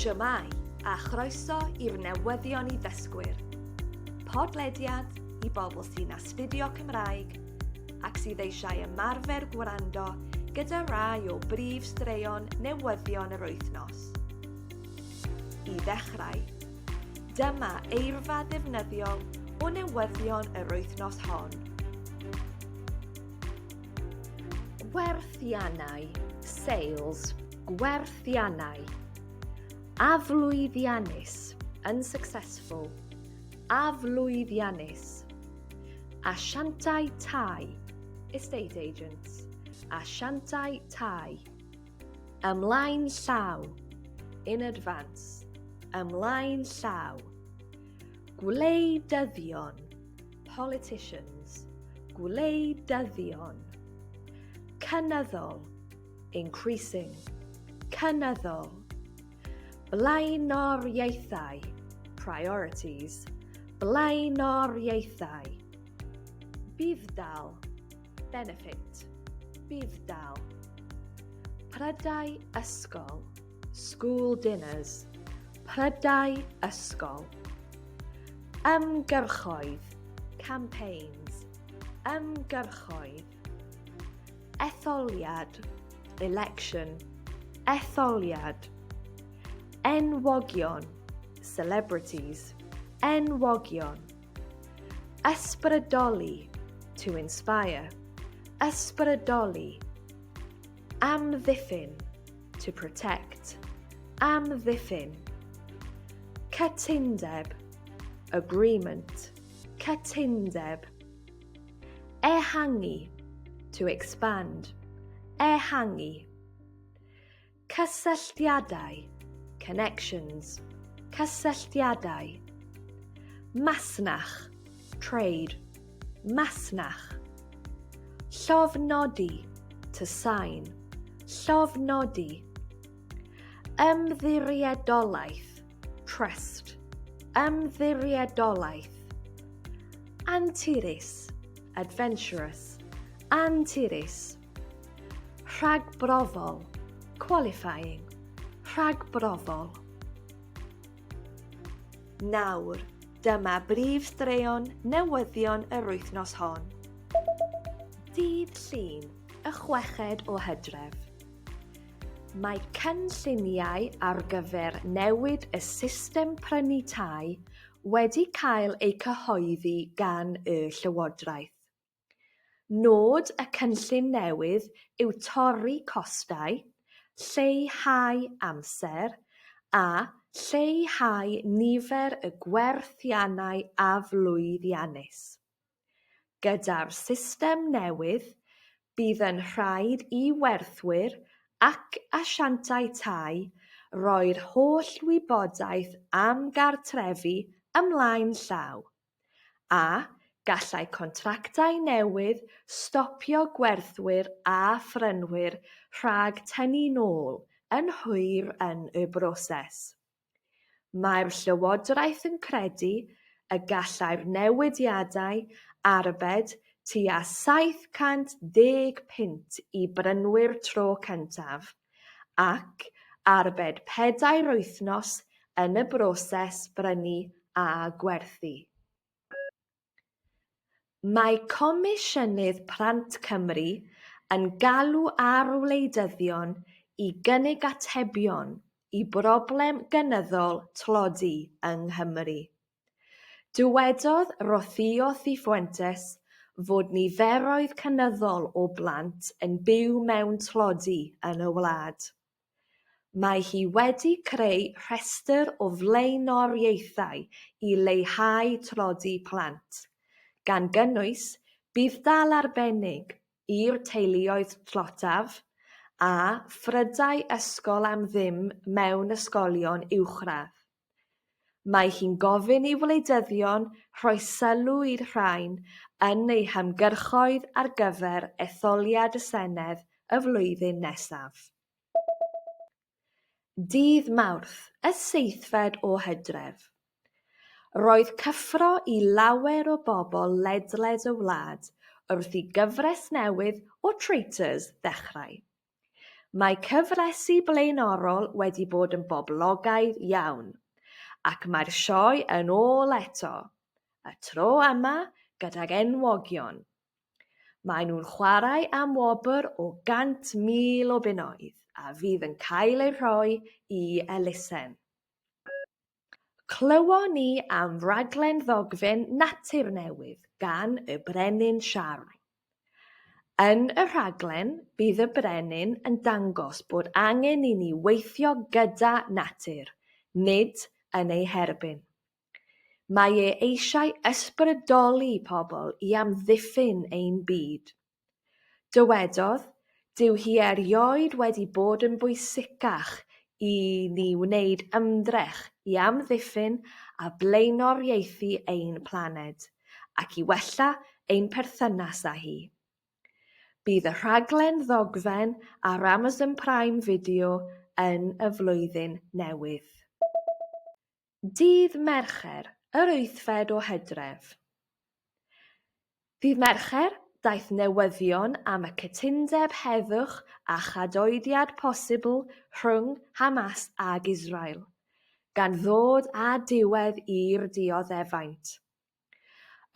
Shwmae, a chroeso i'r newyddion i ddysgwyr. Podlediad i bobl sy'n astudio Cymraeg ac sydd eisiau ymarfer gwrando gyda rai o brif straeon newyddion yr wythnos. I ddechrau, dyma eirfa ddefnyddiol o newyddion yr wythnos hon. Gwerthiannau, sales, gwerthiannau. Aflwyddiannus, unsuccessful. Aflwyddiannus. Asiantau tai, estate agents. Asiantau tai. Ymlaen llaw, in advance. Ymlaen llaw. Gwleidyddion, Politicians, gwleidyddion. Cynyddol, increasing, cynyddol. Blaenoriaethau, priorities, blaenoriaethau. Budd-dal, benefit, budd-dal. Prydau ysgol, School dinners, prydau ysgol. Ymgyrchoedd, campaigns, ymgyrchoedd. Etholiad, election, etholiad. Enwogion, celebrities, enwogion. Ysbrydoli, to inspire, ysbrydoli. Amddiffyn, to protect, amddiffyn, cytundeb, agreement, cytundeb, ehangu, to expand, ehangu, cysylltiadau, connections, cysylltiadau, masnach, trade, masnach. Llofnodi, to sign, llofnodi. Ymddiriedolaeth, trust, ymddiriedolaeth. Anturus, adventurous, anturus. Rhagbrofol, qualifying, rhagbrofol. Nawr, dyma brif straeon newyddion yr wythnos hon. Dydd Llun, y chweched o Hydref. Mae cynlluniau ar gyfer newid y system prynu tai wedi cael eu cyhoeddi gan y Llywodraeth. Nod y cynllun newydd yw torri costau, lleihau amser a lleihau nifer y gwerthiannau aflwyddiannus. Gyda'r system newydd, bydd yn rhaid i werthwyr ac asiantau tai roi'r holl wybodaeth am gartrefi ymlaen llaw, A gallai contractau newydd stopio gwerthwyr a phrynwyr rhag tynnu'n ôl yn hwyr yn y broses? Mae'r Llywodraeth yn credu y gallai'r newidiadau arbed tua 710 punt i brynwyr tro cyntaf, ac arbed pedair wythnos yn y broses brynu a gwerthu. Mae Comisiynydd Plant Cymru yn galw ar wleidyddion i gynnig atebion i broblem gynyddol tlodi yng Nghymru. Dywedodd Rocío Cifuentes fod niferoedd cynyddol o blant yn byw mewn tlodi yn y wlad. Mae hi wedi creu rhestr o flaenoriaethau i leihau tlodi plant, gan gynnwys budd-dal arbennig i'r teuluoedd tlotaf a phrydau ysgol am ddim mewn ysgolion uwchradd. Mae hi'n gofyn i wleidyddion rhoi sylw i'r rhain yn eu hymgyrchoedd ar gyfer etholiad y Senedd y flwyddyn nesaf. Dydd Mawrth, y seithfed o Hydref, roedd cyffro i lawer o bobl ledled y wlad wrth i gyfres newydd o Traitors ddechrau. Mae cyfresi blaenorol wedi bod yn boblogaidd iawn, ac mae'r sioe yn ôl eto, y tro yma gydag enwogion. Maen nhw'n chwarae am wobr o 100,000 o bunnoedd a fydd yn cael eu rhoi i elusen. Clywon ni am raglen ddogfen Natur Newydd gan y Brenin Siarl. Yn y rhaglen, bydd y Brenin yn dangos bod angen i ni weithio gyda natur, nid yn ei herbyn. Mae e eisiau ysbrydoli pobl i amddiffyn ein byd. Dywedodd, Dyw hi erioed wedi bod yn bwysicach i ni wneud ymdrech i amddiffyn a blaenoriaethu ein planed, ac i wella ein perthynas â hi. Bydd y rhaglen ddogfen ar Amazon Prime Video yn y Flwyddyn Newydd. Dydd Mercher, yr wythfed o Hydref. Ddydd Mercher, daeth newyddion am y cytundeb heddwch a chadoediad posibl rhwng Hamas ag Israel, gan ddod â diwedd i'r dioddefaint.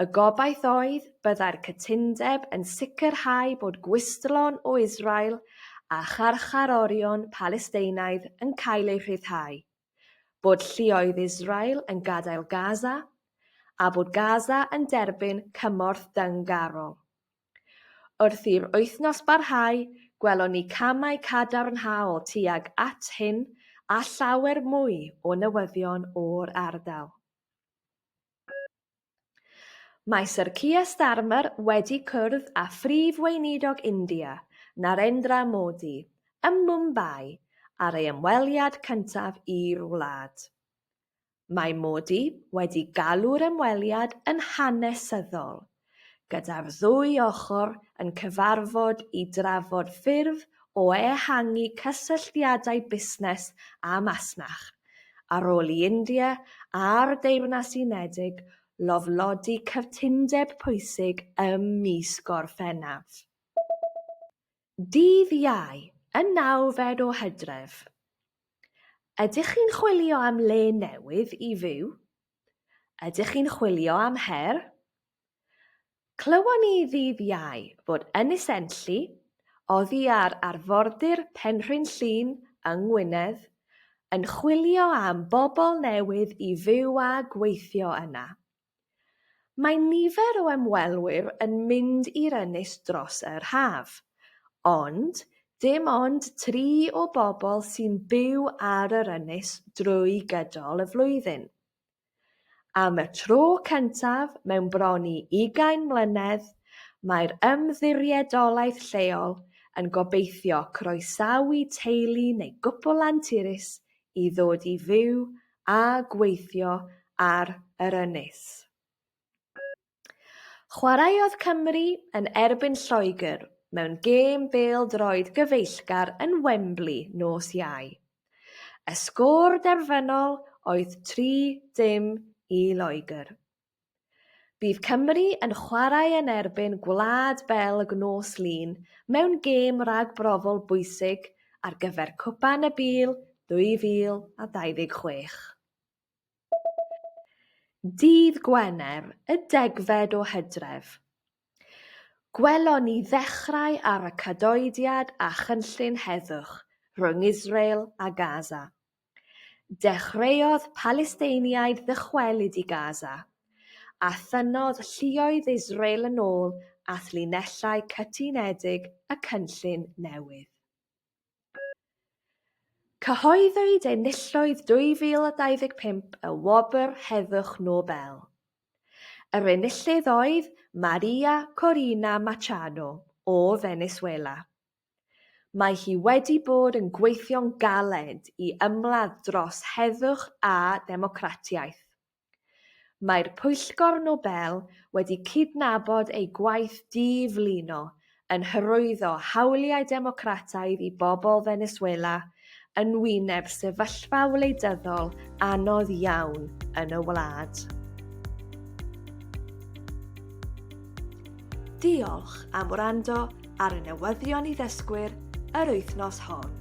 Y gobaith oedd byddai'r cytundeb yn sicrhau bod gwistlon o Israel a charcharorion Palesteinaidd yn cael eu rhyddhau. bod lluoedd Israel yn gadael Gaza a bod Gaza yn derbyn cymorth dyngarol. Wrth i'r wythnos barhau, gwelon ni camau cadarnhaol tuag at hyn a llawer mwy o newyddion o'r ardal. Mae Syr Keir Starmer wedi cwrdd â Phrif Weinidog India, Narendra Modi, ym Mumbai ar ei ymweliad cyntaf i'r wlad. Mae Modi wedi galw'r ymweliad yn hanesyddol, gyda'r ddwy ochr yn cyfarfod i drafod ffyrdd o ehangu cysylltiadau busnes a masnach, ar ôl i India a'r Deyrnas Unedig lofnodi cytundeb pwysig ym mis Gorffennaf. Dydd Iau, y nawfed o Hydref. Ydych chi'n chwilio am le newydd i fyw? Ydych chi'n chwilio am her? Clywon ni ddydd Iau fod Ynys Enlli, oddi ar arfordir Penrhyn Llŷn yng Ngwynedd, yn chwilio am bobl newydd i fyw a gweithio yna. Mae nifer o ymwelwyr yn mynd i'r ynys dros yr haf, ond dim ond tri o bobl sy'n byw ar yr ynys drwy gydol y flwyddyn. Am y tro cyntaf mewn bron i ugain mlynedd, mae'r ymddiriedolaeth lleol yn gobeithio croesawu teulu neu gwpl anturus i ddod i fyw a gweithio ar yr ynys. Chwaraeodd Cymru yn erbyn Lloegr mewn gêm bêl-droed gyfeillgar yn Wembley nos Iau. Y sgôr derfynol oedd 30 i Loegr. Bydd Cymru yn chwarae yn erbyn Gwlad Belg nos Lun mewn gêm ragbrofol bwysig ar gyfer Copa Nabil 2026. Dydd Gwener, y degfed o Hydref, gwelon ni ddechrau ar y cadoediad a chynllun heddwch rhwng Israel a Gaza. Dechreuodd Palesteiniaid ddychwelyd i Gaza, a thynnodd lluoedd Israel yn ôl at linellau cytunedig y cynllun newydd. Cyhoeddwyd enillydd 2025 y Wobr Heddwch Nobel. Yr enillydd oedd Maria Corina Machado o Feneswela. Mae hi wedi bod yn gweithio'n galed i ymladd dros heddwch a democratiaeth. Mae'r Pwyllgor Nobel wedi cydnabod ei gwaith di-flino yn hyrwyddo hawliau democrataidd i bobl Venezuela yn wyneb sefyllfa wleidyddol anodd iawn yn y wlad. Diolch am wrando ar y newyddion i ddysgwyr yr wythnos hon.